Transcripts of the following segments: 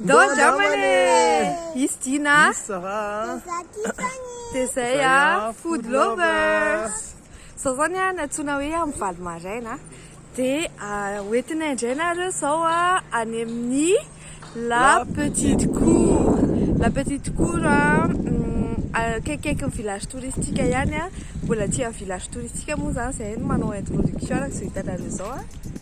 Ndao zao mane Is Dina Dia zay a Food lovers Zao zao ny a nantsoina hoe amin'ny valo maraina Dia hoentinay indray nareo zao a any amin'ny La Petite Cour La Petite Cour a akaikikaikin'ny village touristique ihany a Mbola aty amin'ny village touristique moa zany zahay no manao introduction araka izao hitanareo izao a.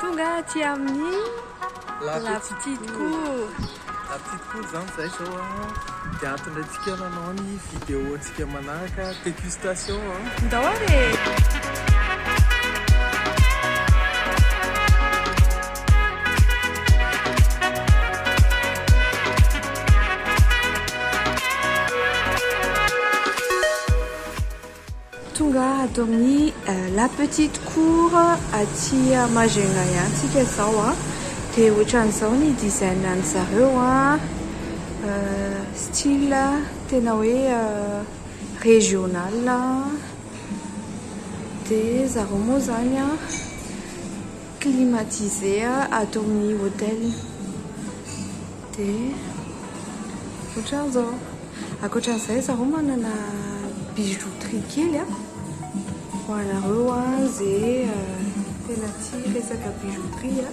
Tonga aty amin'ny La Petite Cour. La Petite Cour izany izay izao an, dia hahatongaintsika nanao ny vidéo-ntsika manaraka, dégustation an. Ndao ary e! Tonga ato amin'ny La Petite Cour aty Majunga ihany tsika izao a. Dia ohatran'izao ny design an'ny zareo a. Style tena hoe régional. Dia zareo moa izany a. climatisé ato amin'ny hotel dia otran'izao akoatran'izay zareo manana bijouterie kely a ho anareo a ze tena tia resaka bijouterie a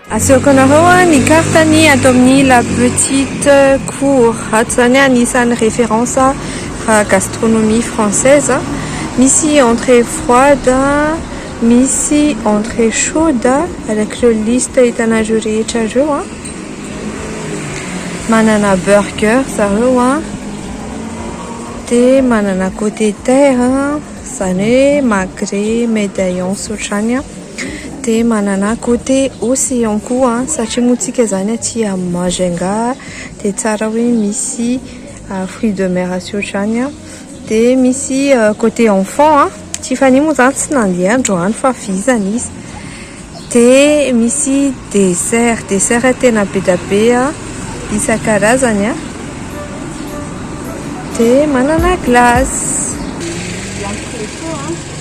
Asehoko anareo ny carte ny ato amin'ny la petite cour ato zany anisan'ny référence raha gastronomie française misy entrée froide misy entrée chaude avec le liste hitanareo rehetra reo a manana burger zareo a de manana côté de terre zany hoe magret medaillons otrany a Dia manana côté aussi ihany koa satria moa tsika izany aty amin'ny Majunga dia tsara hoe misy fruits de mer sy ohatr'izany dia misy côté enfants Tiffany moa izany tsy nandeha androany fa vizana izy dia misy dessert, dessert tena be dia be isan-karazany dia manana glace.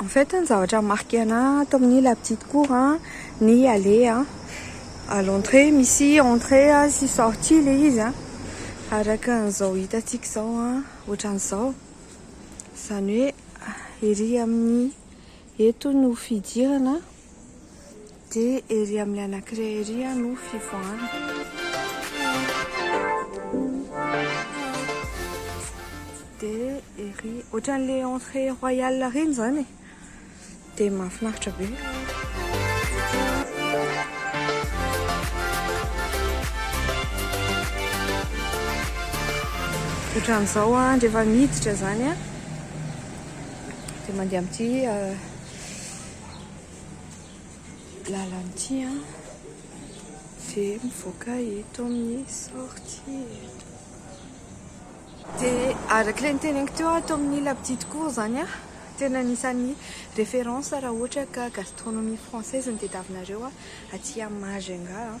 En fait ny zavatra marqué ana ato amin'ny la petite cour a ny allée a à l'entrée misy entrée a sy sortie le izy a araka an'izao hitantsika izao a ohatran'izao izany hoe ery amin'ny eto no fidirana Dia ery amin'ny anankiray ery no fivoahana. Dia ery, ohatran'ilay entrée royale ireny izany e. Dia mahafinaritra be. Ohatran'izao an, rehefa miditra izany an, dia mandeha amin'ity. lalana ity dia mivoaka eto amin'ny sortie eto. Dia araka ilay niteneniko teo ato amin'ny la petite cour izany aho, tena anisan'ny référence raha ohatra ka gastronomie française no tadiavinareo aty Majunga.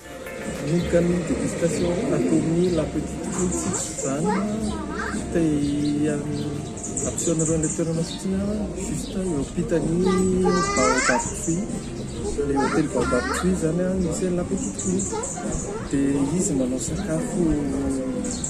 Ny canon de distation roa nataon'i La Petite Fotsy izany te hampiseho anareo an'ilay toerana satria juste eo ampitan'ny Baobab Tree, ilay hotely Baobab Tree izany no misy an'i La Petite Fotsy dia izy manao sakafo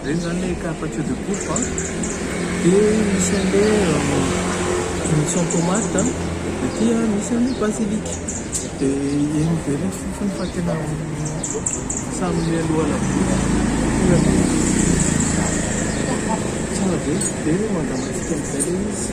Regny zany le carpaccio de polpo a, de misy anle misy an tomate a, de ty a misy anle basilic, de egny very ny fofony fa tena samy mialoha labozy io aloha tsara be de mangamantsika amizay le izy.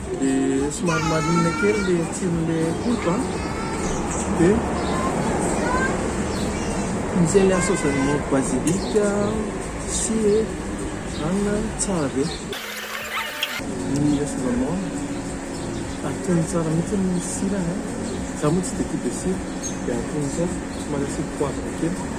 Dia somary marinina kely ilay tsiron'ilay akoho an. Dia misy ilay saosan'ny basilic sy anana tsara be. Ny assaisonnement atony tsara mihitsy ny sirany an. Za moa tsy dia tia be sira dia atony tsara somary asiako poivre kely.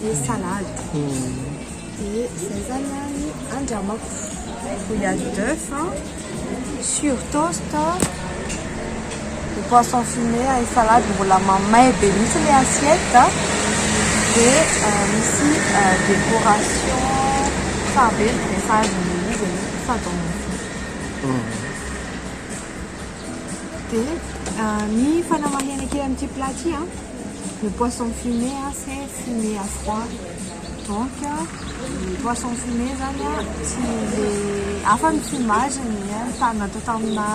dia salade dia izay zany a ny andramako il y a d'oeuf sur toast ny poisson fumé any salade mbola mamay be mihitsy le assiette dia misy décoration tsara be ny dressage ny izy aloha sady ao anaty dia ny fanamahana kely amin'ity plat ty a Le poisson fumé a c'est fumé à froid donc le poisson fumé zany a tsy le hafa ny fumage ny tany natao tamina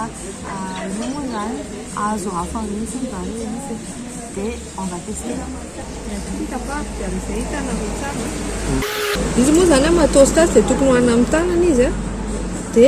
io moa zany azo hafa mihitsy zany le izy de on va tester izy moa zany a matos tasy de tokony hoanina amin'ny tanana izy a de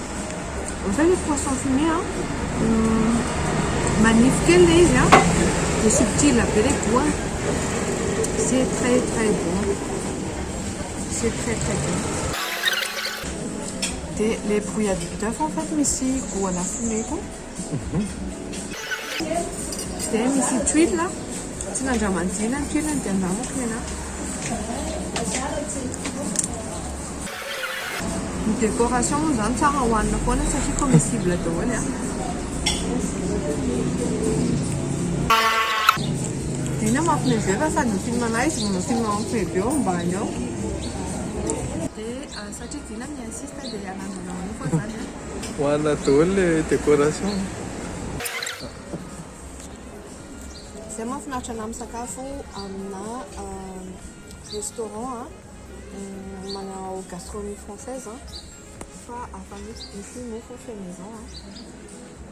Ohatran'ny hoe poisson fumé an, manify kely ilay izy an, dia subtil be ilay goût-ny. C'est très très bon, c'est très très bon. Dia ilay brouillade d'oeuf en fait misy goût ana fumé koa. Dia misy tuiles a, tsy nandramanjina ny tuiles dia andramako ny anah. Ny décoration moa izany tsara hohanina foana satria comestible daholo a. Dina mampme be fa sady film anah izy no film mampme be ao ambany ao. Dia satria Dina mi-insiste dia hanandrana anao koa izany a. Hoanina daholo le décoration. Zay mahafinaritra anah misakafo amina restaurant manao gastronomie française fa afa mitsy misy mofo fait maison.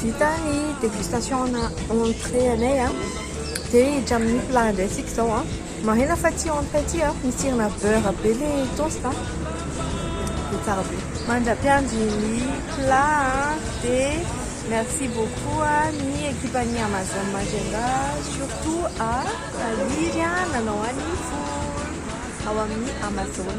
Vita ny dégustation ana entrée anay a, de hiditra amin'ny plat indray tsika zao a, marihina fa ity entrée ity a misy tsirona beurre be le toast a, de tsara be. Mandra-piandry ny plat a, de merci beaucoup a ny ekipan'ny Amazon Majunga surtout a Tahiry a nanao an'ny four ao amin'ny Amazon.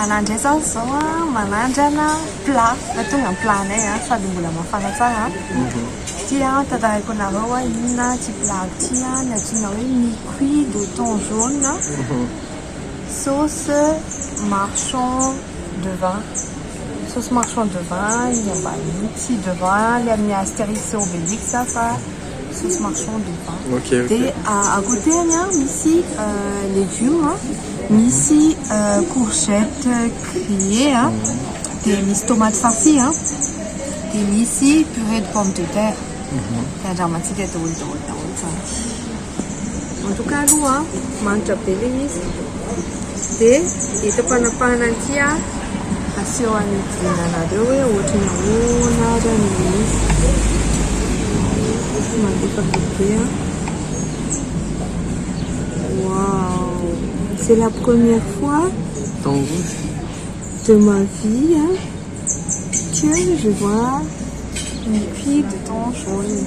Anah indray izao izao manandrana plat fa tonga ny plat anay an sady mbola mafana tsara an, ity an tantaraiko anareo hoe inona ity plat ity an, ny antsoina hoe miqui de thon jaune an, sauce marchand de vin, sauce marchand de vin ny ambaniny, tsy de vin ilay amin'ny asterix sy obelix an fa. Sauce marchande ou pas. Ok ok. Dia à côté any an, misy légumes an, misy courgette grillée an, dia misy tomate farcie an, dia misy purée de pomme de terre. Dia andramantsika daholo daholo daholo izany. En tout cas aloha manitra be le izy de eto ampanapahana an'ity a aseho any anareo hoe ohatry ny ahoana ary any le izy mandefaka be a wow c'est la première fois de ma vie a que je vois une fille de temps jaune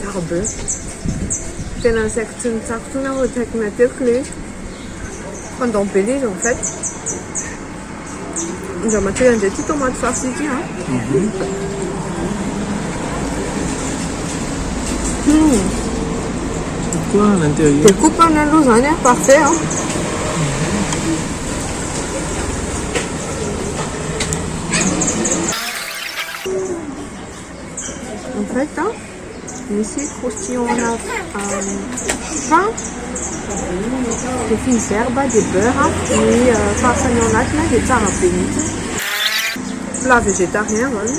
Tsara be. Tena nasaiko tsy nitsako intsony aho akaiky matetika ilay izy. Pendant be ilay izy en fait. Andriamatoa Andry ity tomaty farci ity an. Découpe any aloha izany an, parfait an. en fait hein, misy croustillon à fin de fines herbes de beurre ny euh, farasany ao anatiny dia tsara be mihitsy plat végétarien zany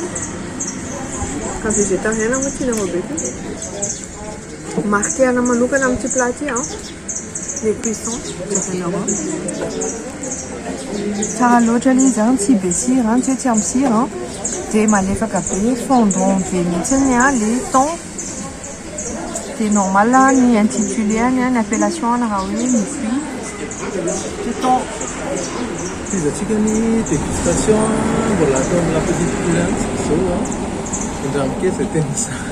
ka végétarien moa tianareo be koa marquer-na manokana amin'ity plat ity an Tsara loatra le izy an, tsy be sira an, tsy hoe tsy ampy sira an, dia malefaka be, fondant be mihitsy ny an le thon, dia normal ny intitulé-ny an, ny appellation-ny raha hoe ny fruit dia thon. Tohizantsika ny dégustation an, mbola atao amin'ny la petite cuillère mihitsy izao an, enjano kely izay tena tsara.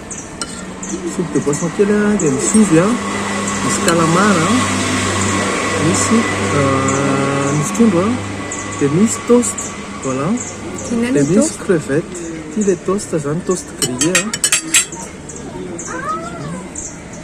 Soupe de poisson kely dia misy ovy, misy calamar, misy trondro, dia misy toast, voilà, dia misy crevette, ity ilay toast izany, toast grillé.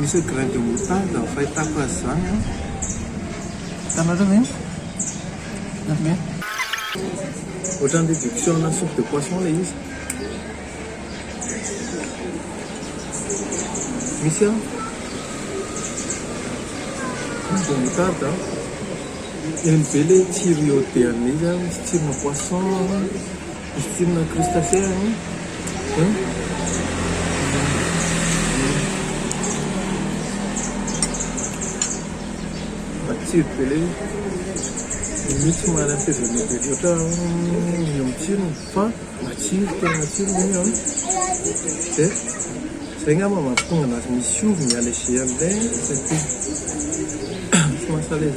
Misy hoe grain de moutarde ny fahitako azy izany an. Hitanareo ve? Hitanareo ve? Ohatran'ny réduction-na soupe de poisson ilay izy. Misy an. Grain de moutarde an. Eny be ilay tsiro iodé an'ilay izy an, misy tsirona poisson. Costume crustacea an matsiro be le izy mihitsy tsy marary fezany be loatra mino amin'ny tsirony fa matsiro tena matsiro ny an dia zay ngamba mampitonga anazy misy ovy ny allergie an'ilay tsy mahasalez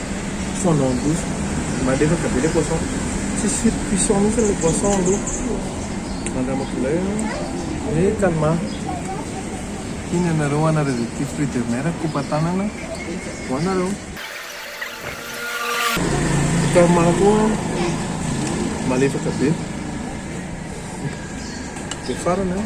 poisson en bouche malefaka be le poisson tsisy firy cuisson mintsy le poisson aloha mandramako zay an de calma iny anareo ana rezy aty fruit de mer kopa tanana ho anareo calma koa malefaka be de farany an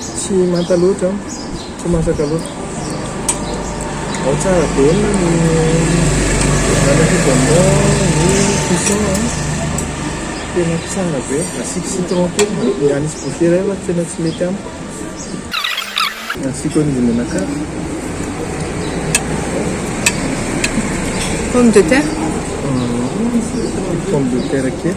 Tsy manta loatra an! Tsy masaka loatra. Ao tsara be ny manifidement ny cuisson an! Tena tsara be. Asiako citron kely, ny ahy misy bougie iray fa tena tsy mety amiko. Asiako an'io menakavy. Pomme de terre? Pomme de terre kely.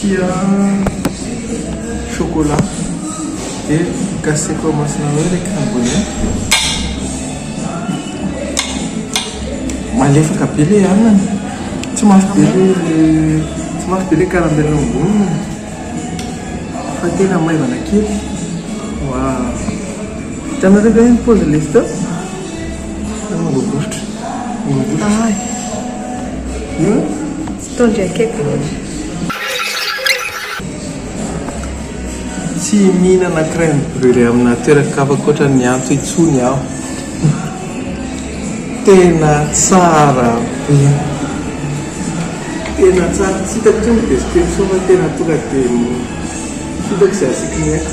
Tia chocolat dia gaseko amasina ao ilay crème malefaka be ilay anana tsy mafy be ilay tsy mafy be ilay caramel ao amboniny fa tena maivana kely waaw hitanareo ve ny pose lesy teo mangovovotra mangovovotra Tondro akaiky loatra. Tsy mihinana crème brûlée amina toeran-kafa ankoatra ny antso intsony aho. Tena tsara be. Tena tsara. Tsy hitako intsony ny description fa tena tonga dia hitako izay asiako ny aiko.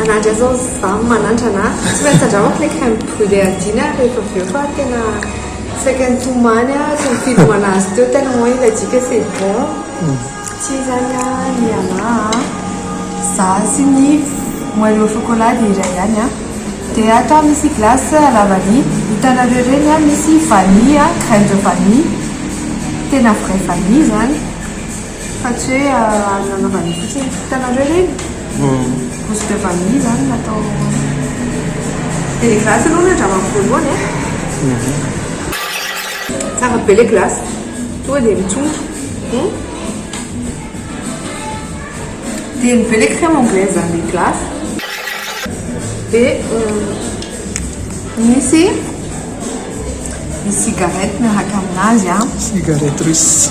Anadra zao zam manandrana a! Tsy maintsy tandramako le crème brûlée Adina rehefa avy eo fa tena saika nitomany aho tsy nifidimana azy teo tellement izy adika c'est bon. Tsy izany a! Ialahy a! Za sy ny moelle au chocolat dia iray ihany a! Dia atao misy glace à la vanille, hitanareo ireny a misy vanille a, graine de vanille, tena vrai vanille izany. Fa tsy hoe azo nanaovana fotsiny. Hitanareo ireny? Gousse de vanille izany natao dia ilay glace aloha ny andramako voalohany e. Tsara be ilay glace, tonga dia mitsongotra. Dia ny be ilay crème anglaise ary ilay glace. Dia misy ny cigarette miaraka aminazy. Cigarette russe.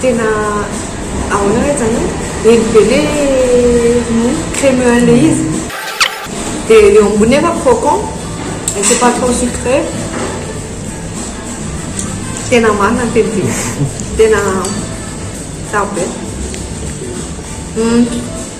Tena ahoana re zany an! Eny be le cremeux le izy. Dia eo ambony nefa croquant et c'est pas trop sucré. Tena marina ny tenin'zay. Tena tsara be.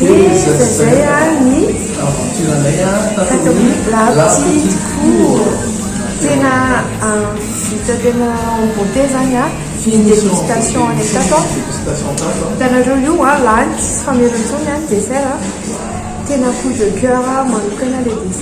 Dia izay ary ny aventure-nay tato amin'ny Rapid Court. Tena vita tena en beauté izany ny dégustation any tato. Hitanareo io lany tsy famelony intsony ny dessert. Tena coup de coeur manokana ilay dessert.